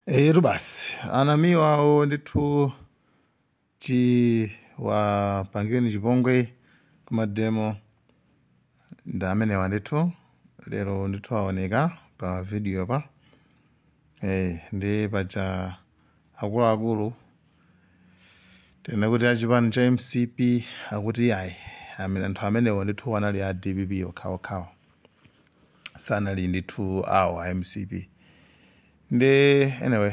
Eyetu basi anamiwa awo ndithu chiwapangireni chipongwe kumademo ndi amenewa ndithu lero ndithu aoneka pa video pa eh, ndi paja akuluakulu tinene kuti achipani cha mcp akuti iyayi anthu amenewo ndithu anali a dpp okhaokhawo sanali ndithu awo a mcp ndi anyway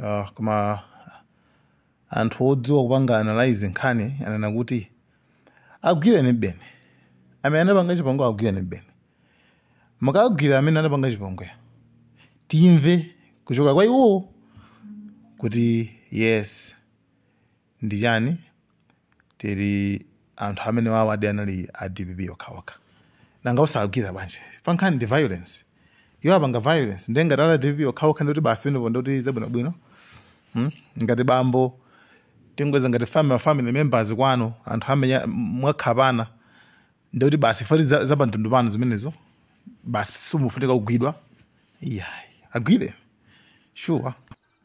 uh, koma anthu odziwa kupanga analyze nkhani anena kuti agwirenibeni amene anapanga chipongwe agwirenibeni mukagwira amene anapanga chipongwe timve kuchokera kwa iwowo kuti yes ndife tili anthu amenewawadi anali a dpp okha okha nanga osagwira bwanji pankhani ndi violence iwo apanga violence ndiye ngati ali a dpp okha okha ndikuti basi pamenepo ndikuti zabwino bwino hmm? ngati bambo tingoyeza ngati family family members kwanu anthu amenyana mwakhapana ndikuti basi poti za, za pantundu panu zimenezo basi simufunika kugwidwa iyayi agwire sure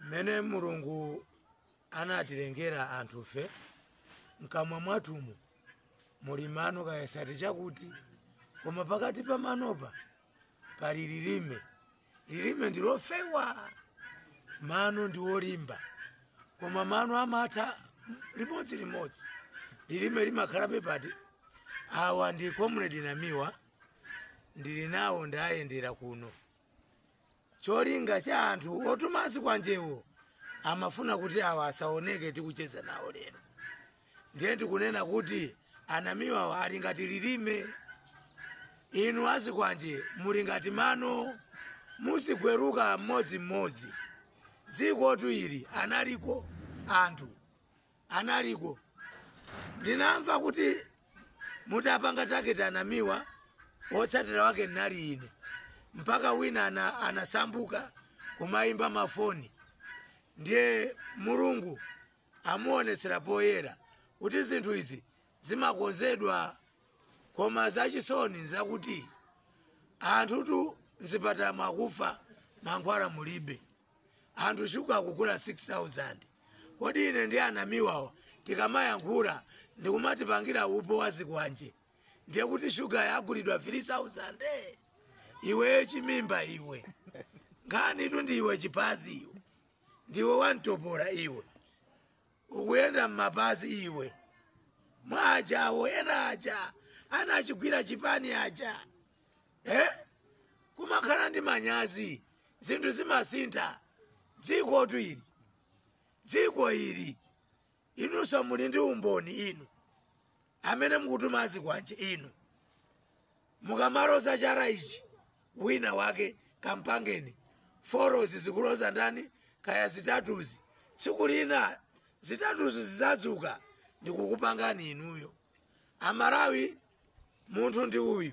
mmene mulungu anatilengera anthufe mkamwa mwathumu muli mano kaya ndi 32 koma pakati pa manopa pali lilime lilime ndilofewa mano ndi olimba koma mano amatha limodzi limodzi lilime limakhalabe but awa ndi comrade namiwa ndili nawo ndayendera kuno Cholinga cha anthu otuma zikwanjewo amafuna kuti awa asaoneke tikucheza nawo lero. Ndiye ndikunena kuti anamiwawa ali ngati lilime. Inu azikwanje muli ngati mano muziguluka mmodzimmodzi. Dzikotu lino analiko anthu. analiko ndinamva kuti mutapanga target anamiwa wotsatira wake anali ine mpaka wina ana, anasambuka kumayimba mafoni ndiye mulungu amuonetsera poyera kuti zinthu izi zimakonzedwa koma zachisoni nzakuti anthutu mzipatala mu akufa mankhwala mulibe anthu shuga akugula 6000 kodi ine ndi anamiwawa tikamayankhula ndikumatipangira upo wa zikwanje ndiye kuti shugayo agulidwa 3000 iweyo chimimba iwe nkhani tu ndi iwe chipazi iwe ndiwe wamtopola iwe ukuyenda m'mapazi iwe mwa anzako ena aja anachigwira chipani aja eh? kumakhala ndi manyazi zinthu zimasintha dziko tu ili dziko ili inunso muli ndi umboni inu amene mukutuma azikwanje inu mukamaloza chala ichi wina wake kampangeni forozi zikuloza ndani kaya zitatuzi tsiku lina zitatuzi zizadzuka ndikukupangani inuyo Amalawi munthu ndi uyu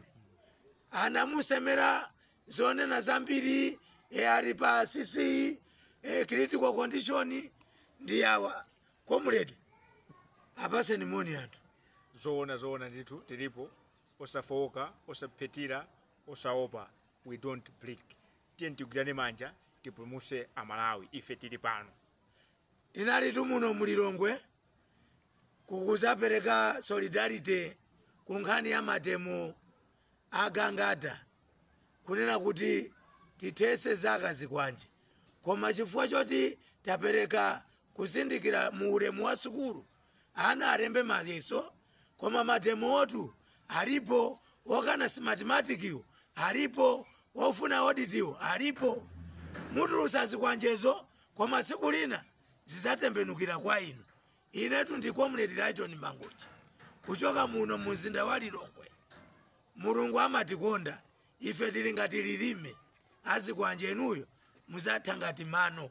anamusemera zonena zambiri e ali pa cc e critical condition ndi awa comrade apaseni moni anthu zoona zoona ndithu tilipo osafowoka osaphetira osaopa we don't blink tiyeni tigwirane manja tipulumuse amalawi ife tili pano Tinalitu muno mu Lilongwe kukuzapereka solidarity ku nkhani ya mademo a Gangata kunena kuti tithetse za azikwanje koma chifukwa choti tapereka kuzindikira mu ulemu wa sukulu ana alembe mayeso koma mademotu alipo okana mathematicsiwo alipo ofuna auditiwo alipo mutulusa zikwanjezo koma tsiku lina zizatembenukira kwa inu inetu ndi comrade Lyton mangochi kuchoka muno mu mzinda wa lilongwe mulungu amatikonda ife tili ngati lilime azikwanje inuyo muzatha ngati mano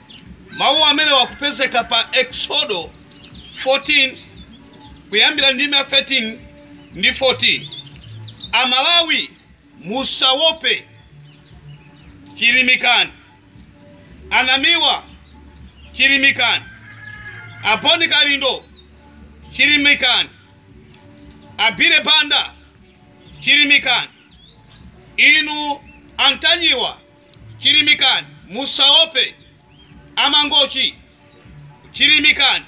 Mawu amene akupezeka pa Eksodo 14 kuyambira ndime ya 13 ndi 14. Amalawi musawope, chilimikani. Anamiwa chilimikani. A Bon Kalindo chilimikani. Abire Banda chilimikani. Inu Antanyiwa Chilimikani, musawope, a Mangochi. Chilimikani.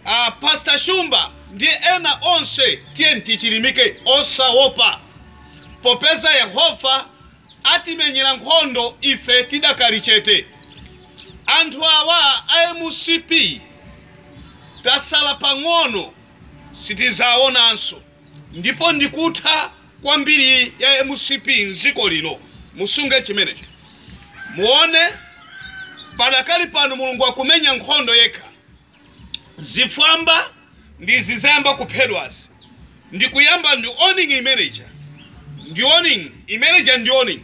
A Pastor Shumba ndi ena onse, tiyeni tichilimike, osawopa, popeza Yehova atimenyera nkhondo ife tidakali chete. Anthu awa a mcp tasala pang'ono sitizawonanso ndipo ndikutha kwambiri ya mcp mziko lino musunge chimenecho muone padakali pano mulungu akumenya nkhondo yekha zifwamba ndi izi zayamba kuphedwazi ndikuyamba ndi warning imene ija ndi warning imene ija ndi warning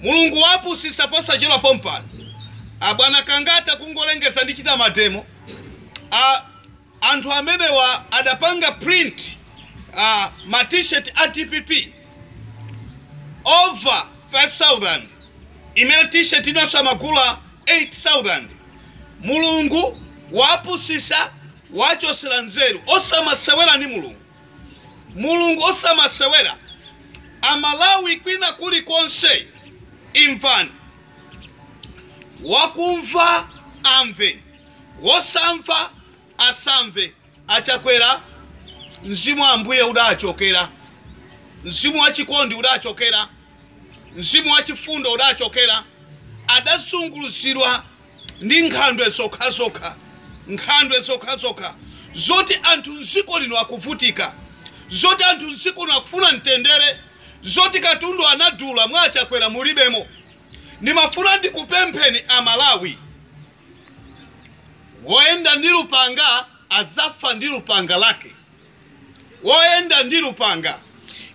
mulungu wapusisa posachedwa pompano abwana Gangata kungolengeza ndichita mademo a Anthu amenewa adapanga print ma T-shirt a dpp over 5000 imene T-shirt inanso amagula 8000. Mulungu waapusisa waachosela nzeru osamasewera ndi Mulungu. Mulungu osamasewera. A Malawi kwina kuli konse imvani. Wakumva amve. Wosamva asamve. A Chakwera mzimu wa Ambuye udachokera, mzimu wa chikondi udachokera, mzimu wa chifundo udachokera. Adazunguliridwa ndi nkhandwe zokhazokha, nkhandwe zokhazokha zoti anthu mziko lino akuvutika, zoti anthu mziko lino akufuna mtendere, zoti katundu anadula mwa Achakwera mulibemo. Ndimafuna ndikupempheni a Malawi Woyenda ndi lupanga adzafa ndi lupanga lake. Woyenda ndi lupanga.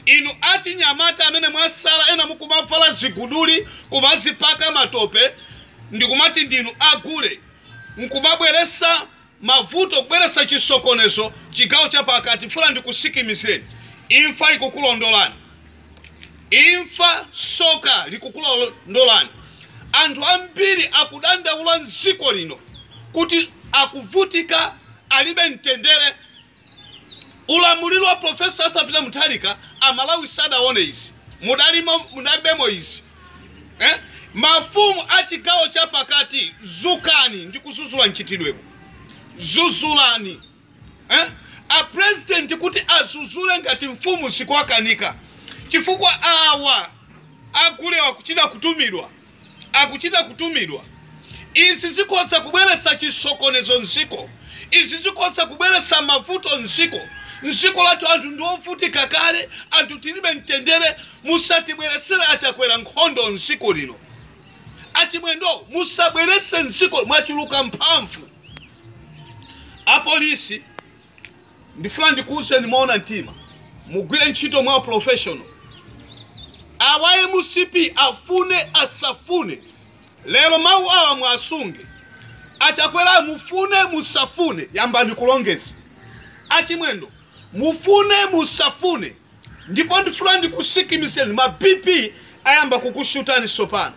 Inu achinyamata amene mwasala ena mukumavala ziguduli, kumazipaka matope ndikumati ndinu a gule, nkumabweretsa mavuto, kubweretsa chisokonezo chigawo chapakati, mfuna ndikusikimizireni? Imfa ikukulondolani. Imfa, soka likukulondolani. Anthu ambiri akudandaula m'dziko lino kuti akuvutika, alibe mtendere. Ulamuliro wa Prof. Arthur Peter Mutharika Amalawi sadaone izi. Mudalibemo izi. Eh? Mafumu a chigawo chapakati, zukani ndi kuzuzula mchitidwewu. Zuzulani. eh? a president kuti azuzule ngati mfumu zikukanika chifukwa awa agulewa akuchita kutumidwa akuchita kutumidwa izi zikhoza kubweretsa chisokonezo mziko izi zikhoza kubweretsa mavuto mziko mziko lathu anthu ndiovutika kale anthu tilibe mtendere musatibweretsere achakwera nkhondo mziko lino achimwendo musabwerese mdziko mwachuluka mphamvu apolisi ndifuna ndikuwuzeni moona mtima mugwire ntchito mwa professional awa mcp afune asafune lero mawu awa muwasunge achakwera mufune musafune yambani kulongeza achimwendo mufune musafune Ndipo ndifuna ndikusikimizeni ma BP ayamba kukushutani sopano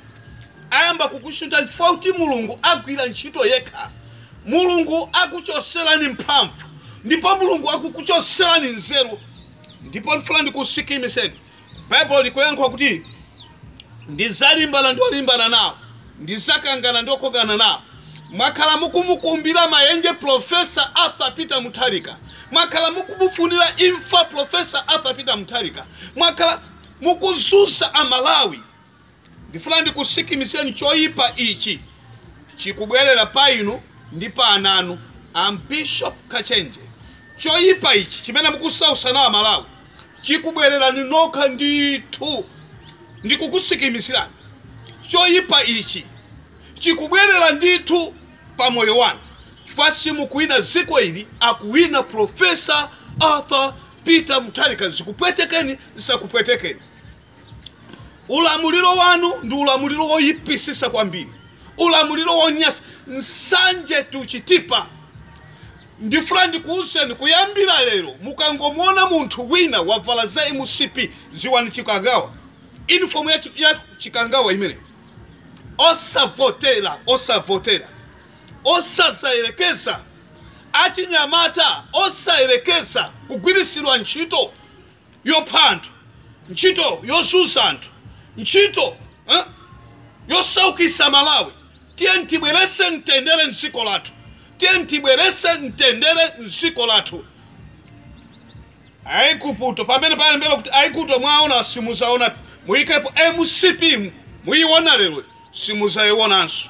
ayamba kukushutani chifukwa kuti mulungu agwira ntchito yekha mulungu akuchoserani mphamvu ndipo mulungu akukuchoserani nzeru ndipo ndifuna ndikusikimizeni bible likuyankhula kuti ndizalimbana ndi olimbana nawo Ndizakangana ndi okangana nawo. Mwakhala mukumukumbira mayenje Prof. Arthur Peter Mutharika. Mwakhala mukumufunira imfa Prof. Arthur Peter Mutharika. Mwakhala mukuzunza a Malawi. Ndifuna ndikusikimizeni choyipa ichi chikubwerera pa inu ndi pa ana anu. Am Bishop Kachenje. Choyipa ichi chimene mukusausa nacho a Malawi. chikubwerera inu nokha ndithu. Ndikukusikimizirani, choyipa ichi chikubwerera ndithu pa moyo wanu chifukwa simukuwina dziko ili, akuwina Prof. Arthur Peter Mutharika. Zikupwetekeni, zisakupwetekeni, ulamuliro wanu ndi ulamuliro woyipisisa kwambiri, ulamuliro wonyasa, nsanje, tuchitipa, Ndifuna ndikuuzeni kuyambira lero mukangomuona munthu wina wavala za mcp ziwani chikangawa inifomu ya chikangawa imeneyo osavotera osavotera osazayerekeza achinyamata osayerekeza kugwirisidwa ntchito. yopha anthu ntchito yozunza anthu ntchito yosaukisa amalawi tiyeni tibwerese mtendere mdziko lathu tiyeni tibwerese mtendere mdziko lathu aiguputo pamene palembedwa kuti aiguputo mwaona simuzaona muyikepo mcp muyiona lero simuzayionanso